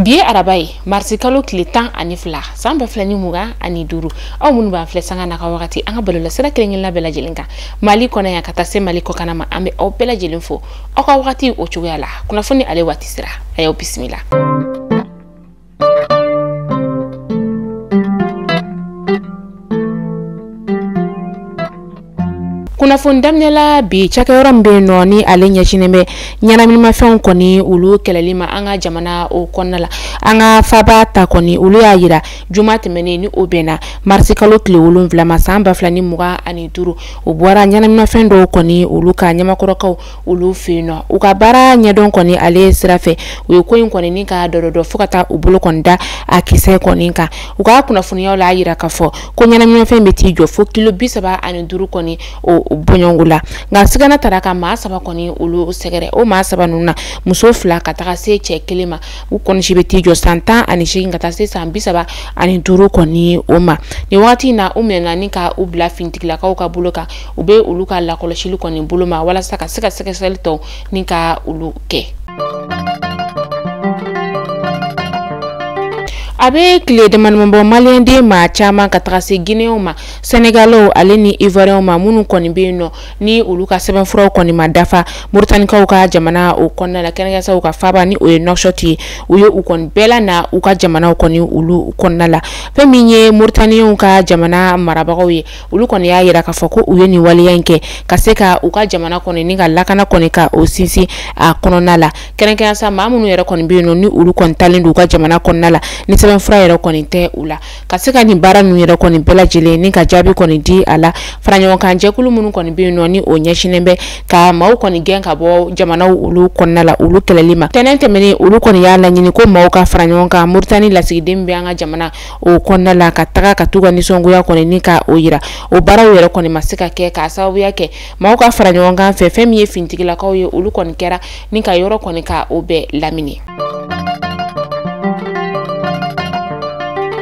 bi ye araba ye marisi kalo tile tan ani fila san ba fila ni mugan ani duuru aw minnu b'an filɛ sanga na ka wagati an ka bɔlɔlɔsira kelenkelenla bɛɛ lajɛlen kan mali kɔnɔ yan ka taa se mali kɔkanna ma an bɛ aw bɛɛ lajɛlen fo aw ka wagati o cogoya la kunnafoni ale waati sira a y'aw bisimila kunnafoni daminɛ la bi cakɛyɔrɔ min bɛ yen nɔ ni ale ɲɛsinnen bɛ ɲɛnaminimafɛnw kɔni olu kɛlɛli ma an ka jamana o kɔnɔna la an ka faaba ta kɔni olu y'a yira juma tɛmɛnen ni o bɛnna marisi kalo tile wolonwula ma san ba fila ni mugan ani duuru o bɔra ɲɛnaminimafɛn dɔw kɔni olu kan ɲamakɔrɔkaw olu fɛ yen nɔ u ka baara ɲɛdɔn kɔni ale sira fɛ u ye ko in kɔni ni k'a dɔdɔ fo ka taa u bolo kɔni da a kisɛ kɔni kan u ka kunnafoni y'a layira k'a fɔ ko ɲɛnaminimafɛn bɛ t'i jɔ fo kilo bi saba ani duuru kɔni o bɔɲɔgɔnko la nka sigana taara ka maa saba kɔni olu sɛgɛrɛ o maa saba ninnu na muso fila ka taga se cɛ kelen ma u kɔni si bɛ t'i jɔ san tan ani seegin ka taa se san bi saba ani duuru kɔni o ma nin wagati in na u minɛna ni ka u bila finitigilakaw ka bolo kan u bɛ olu ka lakɔlɔsili kɔni bolo ma walasa ka se ka sɛgɛsɛgɛli tɔw ni ka olu kɛ a bɛ tile damadamani bɔ maliyɛnden maa caman ka taga se gineyɛnw ma sɛnɛgalɛw ale ni ivoiriyɛnw ma minnu kɔni bɛ yen nɔ ni olu ka sɛbɛnfuraw kɔni ma dafa moritanikaw ka jamana o kɔnɔna la kɛrɛnkɛrɛnya sa u ka faaba ni o ye nɔkshɔti ye u ye u kɔni bɛɛ lana u ka jamanaw kɔni olu kɔnɔna la fɛn min ye moritaniyɛnw ka jamana marabagaw ye olu kɔni y'a yira k'a fɔ ko u ye nin waleya in kɛ ka se ka u ka jamana kɔni ni ka lakana kɔni ka o sinsin a kɔnɔna la kɛrɛnkɛrɛnya sa maa minnu yɛrɛ kɔni bɛ yen nɔ ni olu kɔni taalen don u ka jamana kɔnɔna la ni sɛbɛnfura yɛrɛ kɔni tɛ u la ka se ka nin baara ninnu yɛrɛ kɔni bɛɛ lajɛlen ni ka jaabi kɔni di a la faraɲɔgɔnkan jɛkulu minnu kɔni bɛ yen nɔ ni o ɲɛsinnen bɛ ka maaw kɔni gɛn ka bɔ jamanaw olu kɔnɔna la olu kɛlɛli ma tɛnɛn tɛmɛnen olu kɔni y'a laɲini ko maaw ka fara ɲɔgɔn kan moritani lasigiden bɛ an ka jamana o kɔnɔna la ka taga ka t'u ka nisɔngoya kɔni ni ka o yira o baaraw yɛrɛ kɔni ma se ka kɛ k'a sababuya kɛ maaw ka fara ɲɔgɔn kan fɛ fɛn min ye finitigilakaw ye olu kɔni kɛra ni ka yɔrɔ kɔni ka o bɛɛ lamini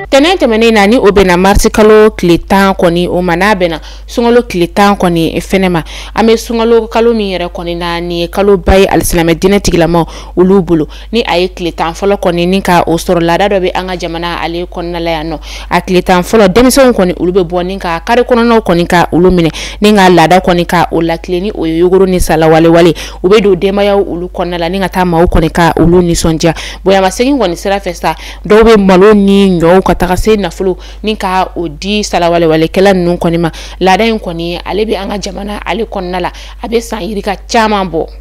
tɛnɛn tɛmɛnen na ni o bɛnna marisi kalo tile tan kɔni o ma n'a bɛnna sunkalo tile tan kɔni fɛnɛ ma an bɛ sunkalo kalo min yɛrɛ kɔni na ni kaloba ye alisilamɛ diinɛ tigilamaw olu bolo ni a ye tile tan fɔlɔ kɔni ni ka o sɔrɔ laada dɔ bɛ an ka jamana ale kɔnɔna la yan nɔ a tile tan fɔlɔ denmisɛnw kɔni olu bɛ bɔ ni ka kari kɔnɔnaw kɔni ka olu minɛ ni ka laada kɔni ka o latilen ni o ye yogoro ni salawalewale u bɛ don denbayaw olu kɔnɔna la ni ka taa maaw kɔni ka olu nisɔndiya bonyamasegin kɔni sira fɛ sa dɔw bɛ malo ni ɲɔw ka taga se nafolo ni ka o di salawalewalekɛla ninnu kɔni ma laada in kɔni ale bɛ an ka jamana ale kɔnɔna la a bɛ san yirika caman bɔ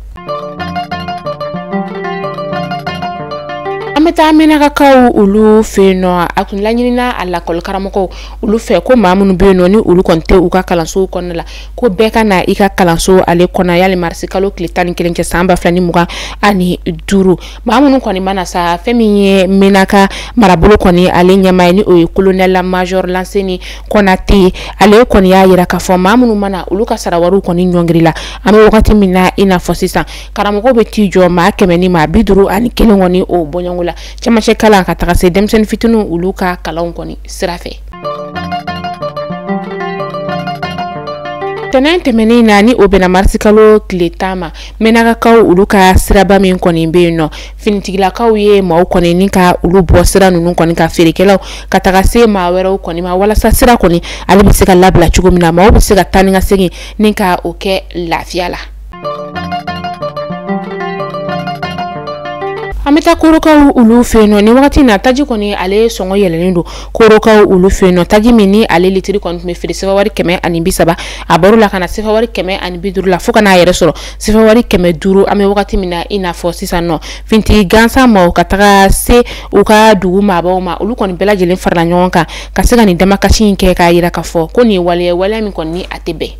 an bɛ taa mɛnakakaw olu fɛ yen nɔ a tun laɲinina a lakɔlikaramɔgɔw olu fɛ ko maa minnu bɛ yen nɔ ni olu kɔni tɛ u ka kalansow kɔnɔna la ko bɛɛ ka na i ka kalanso ale kɔnɔ yali marisikalo tile tan ni kelen cɛ san ba fila ni mugan ani duuru maa minnu kɔni ma na sa fɛn min ye mɛnaka marabolo kɔni ale ɲɛmaa ye ni o ye kolonɛl majɔr lanseni Konate ale kɔni y'a yira k'a fɔ maa minnu ma na olu ka sarawariw kɔni ɲɔngirila an bɛ wagati min na i n'a fɔ sisan karamɔgɔw bɛ t'i jɔ maa kɛmɛ ni maa bi duuru ani kelen kɔni o bɔɲɔgɔnko la cɛmancɛ kalan ka taga se denmisɛnnin fitininw olu ka kalanw kɔni sira fɛ tɛnɛn tɛmɛnen na ni o bɛnna marisikalo tile tan ma mɛnakakaw olu ka siraba min kɔni bɛ yen nɔ finitigilakaw ye maaw kɔni ni ka olu bɔ sira ninnu kɔni kan feerekɛlaw ka taga se maa wɛrɛw kɔni ma walasa sira kɔni ale bɛ se ka labila cogo min na maaw bɛ se ka taa ni ka segin ni ka o kɛ lafiya la. an bɛ taa korokaw olu fɛ yen nɔ nin wagati in na taji kɔni ale sɔngɔ yɛlɛlen don korokaw olu fɛ yen nɔ taji min ni ale litiri kɔni tun bɛ feere sefawari kɛmɛ ani bi saba a bɔra o la ka na sefawari kɛmɛ ani bi duuru la fo ka n'a yɛrɛ sɔrɔ sefawari kɛmɛ duuru an bɛ wagati min na i n'a fɔ sisan nɔ finitigi gansan maaw ka taga se u ka dugu maabaw ma olu kɔni bɛɛ lajɛlen farala ɲɔgɔn kan ka se ka nin damakasi in kɛ k'a yira k'a fɔ ko nin waleya waleya min kɔni ni a tɛ bɛn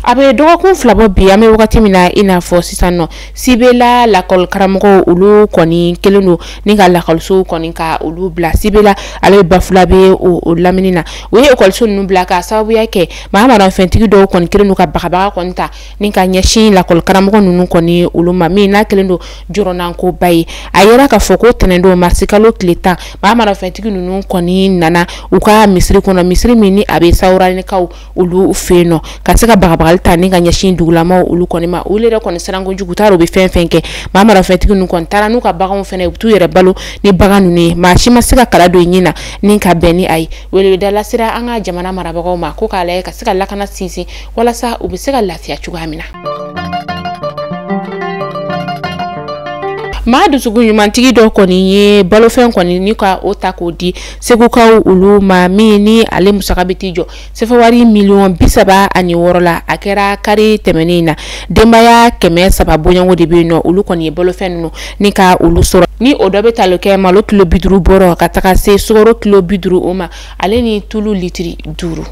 a bɛ dɔgɔkun fila bɔ bi an bɛ wagati min na i n'a fɔ sisan nɔ sibela lakɔlikaramɔgɔw olu kɔni kelen don ni ka lakɔlisow kɔni ka olu bila sibela ale bɛ bafulabɛ o lamini na u ye ekɔliso ninnu bila ka sababuya kɛ maa marafɛntigi dɔw kɔni kelen don ka bagabaga kɔni ta ni ka ɲɛsin lakɔlikaramɔgɔ ninnu kɔni olu ma min n'a kelen don jɔrɔnankoba ye a yera k'a fɔ ko tɛnɛndon marisikalo tile tan maa marafɛntigi ninnu kɔni nana u ka misiri kɔnɔ misiri min ni a bɛ sawuranikaw olu fɛ yen nɔ ka se ka bagabagali ta ni ka ɲɛsin dugulamaw olu kɔni ma olu yɛrɛ kɔni siran kojugu t'a dɔn u bɛ fɛn fɛn kɛ maa marafɛntigi ninnu kɔni taara n'u ka baganw fana ye u bɛ t'u yɛrɛ balo ni bagan ninnu ye maa si ma se ka kala don i ɲin na ni ka bɛn ni a ye weleweda lasera an ka jamana marabagaw ma ko k'a lajɛ ka se ka lakana sinsin walasa u bɛ se ka lafiya cogoya min na. maa dusukun ɲumantigi dɔ kɔni ye balofɛn kɔni ni ka o ta k'o di segukaw olu ma min ni ale musaka bɛ t'i jɔ sefawari miliyɔn bi saba ani wɔɔrɔ la a kɛra kari tɛmɛnen in na denbaya kɛmɛ saba bɔɲɔgɔnko de bɛ yen nɔ olu kɔni ye balofɛn ninnu ni ka olu sɔrɔ ni o dɔ bɛ tali kɛ malo kilo bi duuru bɔrɔ ka taga se sukaro kilo bi duuru o ma ale ni tulu litiri duuru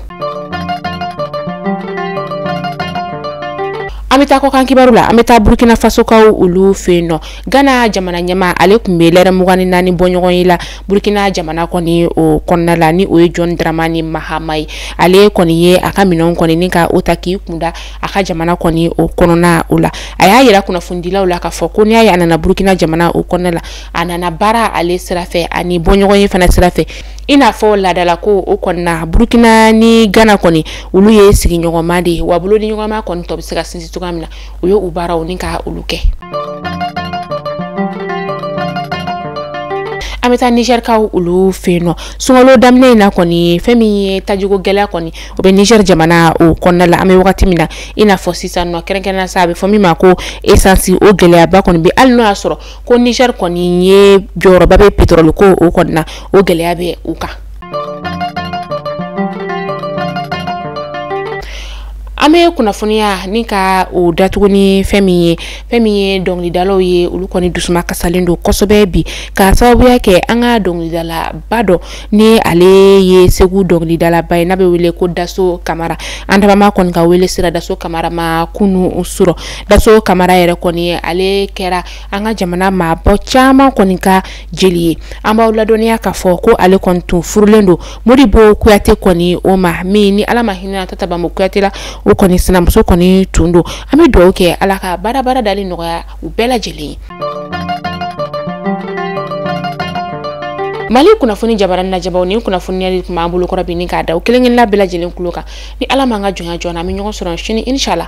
an bɛ taa kɔkan kibaru la an bɛ taa burkina fasokaw olu fɛ yen nɔ gana jamana ɲɛmaa ale tun bɛ lɛrɛ mugan ni naani bɔɲɔgɔn ye la burkina jamana kɔni o kɔnɔna la ni o ye jɔn dramani mahama ye ale kɔni ye a ka minɛnw kɔni ni ka o ta k'i kunda a ka jamana kɔni o kɔnɔna o la a y'a yira kunnafonidilaw la k'a fɔ ko n'i y'a ye a nana burkina jamana o kɔnɔna la a nana baara ale sira fɛ ani bɔɲɔgɔn ye fana sira fɛ i n'a fɔ laadala ko o kɔni na burukina ni gana kɔni olu ye sigiɲɔgɔnma de ye wa bolodiɲɔgɔnma kɔni tɔ bɛ se ka sinsin cogoya min na u ye u baaraw ni ka olu kɛ an bɛ taa nizɛrikaw olu fɛ yen nɔ sunkalo daminɛ in na kɔni fɛn min ye tajiko gɛlɛya kɔni o bɛ nizɛri jamana o kɔnɔna la an bɛ wagati min na i n'a fɔ sisan nɔ kɛrɛnkɛrɛnnenya sa a bɛ fɔ min ma ko esansi o gɛlɛyaba kɔni bɛ hali n'o y'a sɔrɔ ko nizɛri kɔni ye jɔyɔrɔba bɛ petorɔli ko o kɔni na o gɛlɛya bɛ u kan an bɛ kunnafoniya ni ka o datugu ni fɛn min ye fɛn min ye dɔnkilidalaw ye olu kɔni dusuma kasalen don kosɛbɛ bi ka sababuya kɛ an ka dɔnkilidalaba dɔ ni ale ye segu dɔnkilidalaba ye n'a bɛ wele ko daso kamara an dabaa ma kɔni ka wele sera daso kamara ma kunu surɔ daso kamara yɛrɛ kɔni ale kɛra an ka jamana maaba caman kɔni ka jeli ye an b'aw ladɔnniya k'a fɔ ko ale kɔni tun furulen don modibo kuyate kɔni o ma min ni ala ma hinɛ tata bambo kuyate la o kɔni sinamuso kɔni tun don an bɛ dugawu kɛ ala ka baara baara dali nɔgɔya u bɛɛ lajɛlen ye mali kunnafoni jabaranin lajɛbaaw ni kunnafoniyali tun b'an bolo kɔrɔ bi ni k'a da aw kelen kelenna bɛɛ lajɛlen tulo kan ni ala m'an ka jɔnya jɔ an na an bɛ ɲɔgɔn sɔrɔ sini inshallah